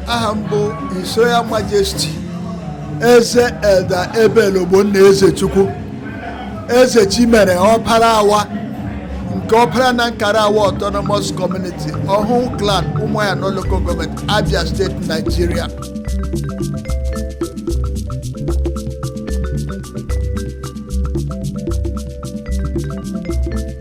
aha m bụ His Royal Majesty eze Elder Abel Ogbonna Ezechukwu eze Chimere ọpara awa nke ọpara na nkara awa autonomous community Ọhụhụ clan ụmụahịa North local government Abia State Nigeria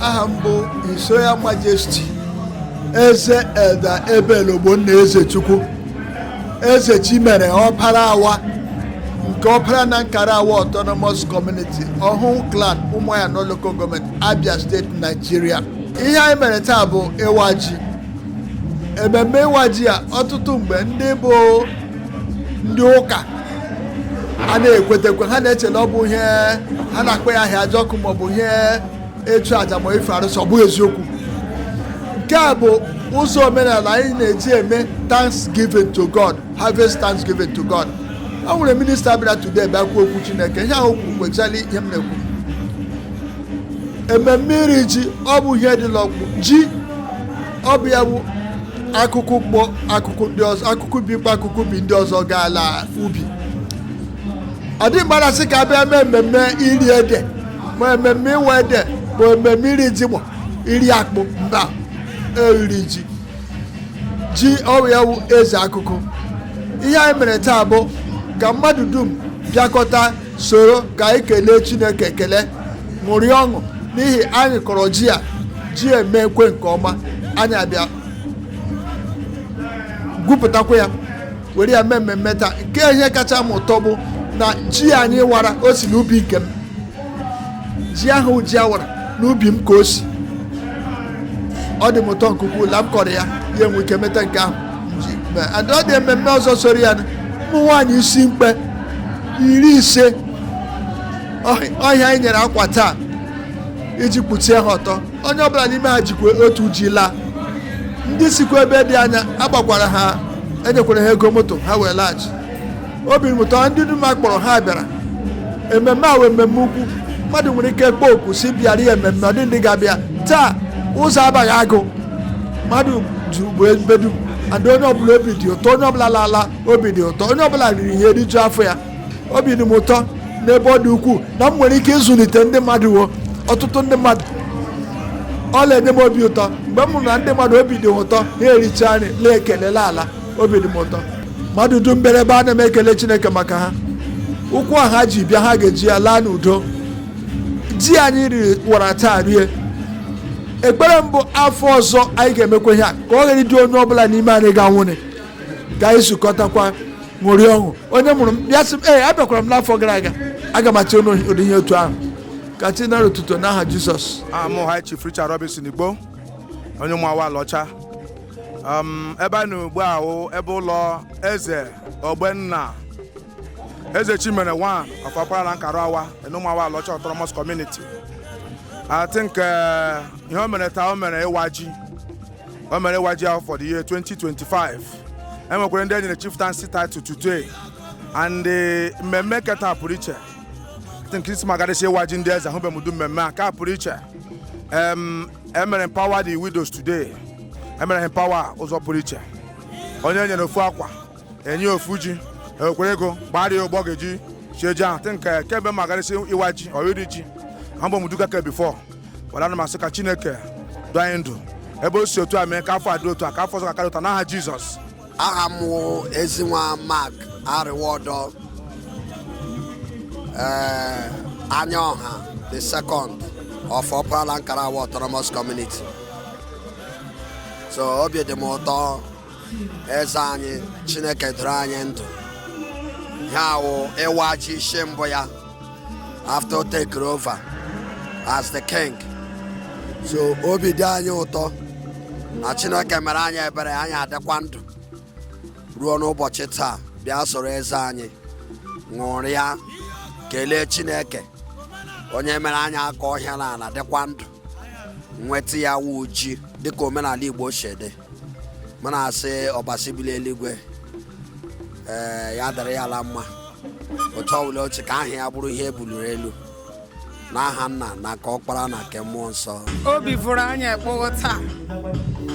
aha m bụ His Royal Majesty eze Elder Abel Ogbonna Ezechukwu eze chimere ọpara awa nke ọpara na nkara awa autonomous community Ọhụhụ clan ụmụahịa North local government Abia State Nigeria ihe anyị mere taa bụ ịwa ji ememme ịwa ji a ọtụtụ mgbe ndị bụ ndị ụka ana ekwetekwa ha na-eche na ọ bụ ihe a na-akpọ ahịajọkụ maọbụ ihe ịchụ aja ma ife arụsị ọ bụghị eziokwu nke a bụ ụzọ omenala anyị na-eji eme thanksgiving to god harvest thanksgiving to god ọ nwere minista bịara today bịa kwuo okwu chineke ihe o kwuru kwechara ihe m na-ekwu ememme iri ji ọ bụ ihe dị n'ọkpụ ji ọ bụ ya bụ akụkụ kpọ akụkụ ndị ọzọ akụkụ ubi kpọ akụkụ ubi ndị ọzọ gaa la ubi ọ dị mgbe a na-asị ka a bịa mee ememme iri ede ma ememme ịwa ede ma ememme iri jigbọ ma iri akpụ mba iri ji ji ọ bụ ya bụ eze akụkụ ihe anyị mere taa bụ ka mmadụ dum bịakọta soro ka anyị kelee chineke ekele ṅụrịa ọṅụ n'ihi anyị kọrọ ji a ji emekwee nke ọma anyị abịa gwupụtakwa ya were ya mee ememme taa nke ihe kacha m ụtọ bụ na ji anyị wara o si n'ubi nke m ji ahụ ji a wara n'ubi m ka o si ọ dị m ụtọ nke ukwuu la m kọrọ ya ya enwe ike meta nke ahụ m ji mee. And ọ dị ememme ọzọ soro ya na ụmụ nwaanyị isi mkpe iri ise ahụ anyị nyere akwa taa iji kpuchie ha ọtọ onye ọbụla n'ime ha jikwa otu ji laa ndị sikwa ebe dị anya agbakwara ha enyekwara ha ego moto ha wee laghachi obi dị m ụtọ ndị dum a kpọrọ ha bịara ememme a wụ ememme ukwu mmadụ nwere ike kpọọ oku si bịara ya ememme ọ dị ndị ga-abịa taa ụzọ abaghị agụ mmadụ juru ebe dum and onye ọbụla obi dị ụtọ onye ọbụla lala obi dị ụtọ onye ọbụla riri ihe rijuo afọ ya obi dị m ụtọ n'ebe ọ dị ukwuu na m nwere ike ịzụlite ndị mmadụ wo ọtụtụ ndị mmadụ ọ na-enye m obi ụtọ mgbe m hụrụ na ndị mmadụ obi dị m ụtọ ha ericha nri lee ekelela ala obi dị m ụtọ mmadụ dum bịara ebe a na m ekele chineke maka ha ụkwụ a ha ji bịa ha ga-eji ya laa n'udo ji anyị riri wara taa rie ekpere m bụ afọ ọzọ anyị ga-emekwa ihe a ka ọ ghara ịdị onye ọbụla n'ime anyị ga-anwụnị ka anyị zukọtakwa ṅụrịa ọṅụ onye mụrụ m ya sị m ee abịakwara m n'afọ gara aga aga m achị ụdị ihe otu ahụ ka chi nara otuto n'aha jizọs a wụ m high chief richard robinson igbo onye ụmụ awa alaọcha um, ebe a na ugbu a wụ ebe ụlọ eze ogbenna eze chimere one of ọkpara la nkara awa in ụmụawa alaọcha autonomous community i think eh, ihe o mere taa o mere ịwa ji o mere ịwa ji ahụ for the year 2025 enwekwara ndị enyere chieftaincy title today and eh, mmemme nke taa pụrụ iche think since ma gadịsị ịwa ji ndị eze ahụbe m ụdị mmemme a ka pụrụ iche em emere empower the widows today emere ha empower ụzọ pụrụ iche onye enyere ofu akwa enye ofu ji ekwere ego gbara ya ụgbọ ga-eji sie ji ahụ think kemgbe ma garịsị ịwa ji oriri ji ahụbe m ụdị nke a before wara na m asị ka chineke doo anyị ndụ ebe o si otu a mee ka afọ a dị otu a ka afọ ọzọ ga-akarị otu a n'aha jizọs aha m wụ ezinwa mark ariwodo ee anya ọha the second of ọpara la nkarawa autonomous community so obi dị m ụtọ eze anyị chineke doro anyị ndụ ihe a wụ ịwa ji isi mbụ ya after taking over as the king so obi dị anyị ụtọ na chineke mere anyị ebere anyị adịkwa ndụ ruo n'ụbọchị taa bịa soro eze anyị ṅụrịa kelee chineke onye mere anyị akọọ ihe n'ala dịkwa ndụ nweta ya wụ ji dịka omenala igbo si dị mụ na-asị ọbasi bi l'eluigwe ee ya dịrị ya la mma otu ọbụla o si ka aha ya bụrụ ihe ebuliri elu n'aha nna na nke ọkpara na nke mmụọ nsọ obi fụrụ anyị ekpogho taa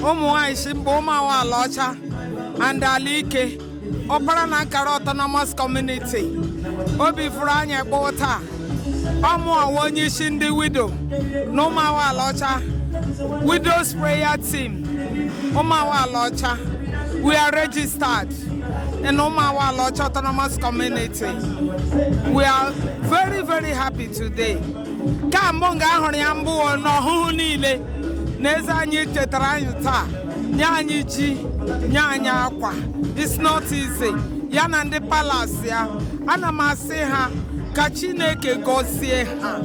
ụmụ nwaanyị isi mkpe ụmụ awa ala ọcha and ala ike ọkpara na nkara autonomous community obi fụrụ anyị ekpoo taa ọ mụwa onye isi ndị widow na ụmụawa ala ọcha widows prayer team ụmụawa ala ọcha we are registered in ụmụawa ala ọcha autonomous community we are very very happy today ka mbụ nga a hụrụ ya mbụ na ọhụhụ niile n'eze anyị chetara anyị taa nye anyị ji nye anyị akwa it's not easy ya na ndị palas ya ana m asị ha ka chineke gọzie ha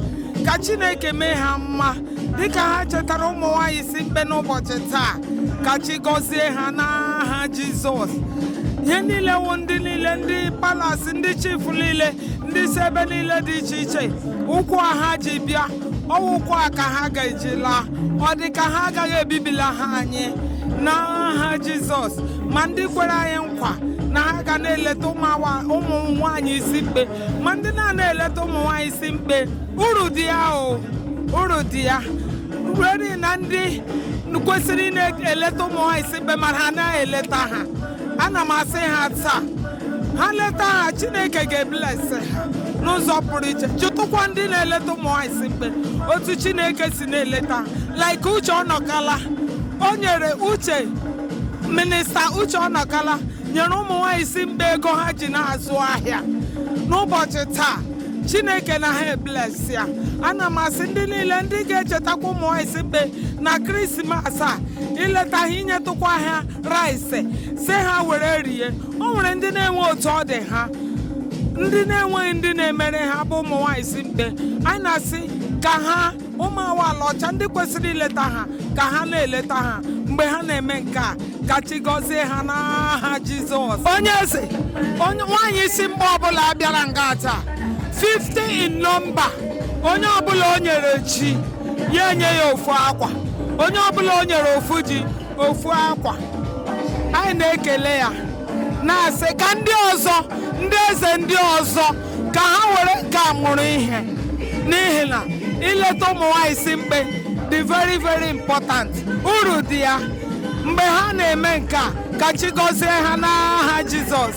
ka chineke mee ha mma dịka ha chetara ụmụ nwanyị isi mkpe n'ụbọchị taa ka chi gọzie ha n'aha jizọs ihe niile wụ ndị niile ndị palas ndị chifu niile ndị si ebe niile dị iche iche ụkwụ a ha ji bịa ọ wụ ụkwụ a ka ha ga-eji laa ọ dị ka ha agaghị ebibila ha anyị n'aha jizọs ma ndị kwere anyị nkwa na ha ga na-eleta ụmụ awa- ụmụ nwaanyị isi mkpe ma ndị na-anaghị eleta ụmụ nwaanyị isi mkpe uru dị ya o uru dị ya ruo na ndị kwesịrị ịna-eleta ụmụ nwaanyị isi mkpe ma ha na-eleta ha ana m asị ha taa ha leta ha chineke ga-eblesị ha n'ụzọ pụrụ iche jụtụkwa ndị na-eleta ụmụ nwaanyị isi mkpe otu chineke si na-eleta ha like uche ọnọkala o nyere uche minista uche ọnọkala nyere ụmụ nwaanyị isi mkpe ego ha ji na-azụ ahịa n'ụbọchị taa chineke na ha eblesi ya ana m asị ndị niile ndị ga-echetakwa ụmụ nwaanyị isi mkpe na krismas a ileta ha inyetụkwa ha rice sị ha were rie o nwere ndị na-enweghị otu ọ dị ha ndị na-enweghị ndị na-emere ha bụ ụmụ nwaanyị isi mkpe anyị na-asị ka ha ụmụawa alaọcha ndị kwesịrị ileta ha ka ha na-eleta ha mgbe ha na-eme nke a ka chi gọzie ha n'aha jizọs onye eze onye nwaanyị isi mkpe ọbụla bịara ngaa taa 50 in nọmba onye ọbụla o nyere ji ya enye ya ofu akwa onye ọbụla o nyere ofu ji ofu akwa anyị na-ekele ya na-asị ka ndị ọzọ ndị eze ndị ọzọ ka ha were nke a mụrụ ihe n'ihi na ileta ụmụ nwanyị isi mkpe dị very very important uru dị ya mgbe ha na-eme nke a ka chi gọzie ha n'aha Jizọs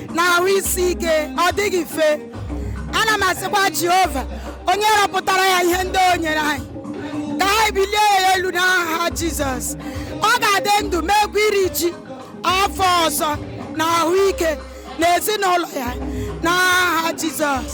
na ahụ isi ike ọ dịghị mfe ana m asịkwa jehova onye rọpụtara ya ihe ndị o nyere anyị ka anyị bulie ya elu n'aha jizọs ọ ga-adị ndụ meekwa iri ji afọ ọzọ na ahụike na ezinụlọ ya n'aha jizọs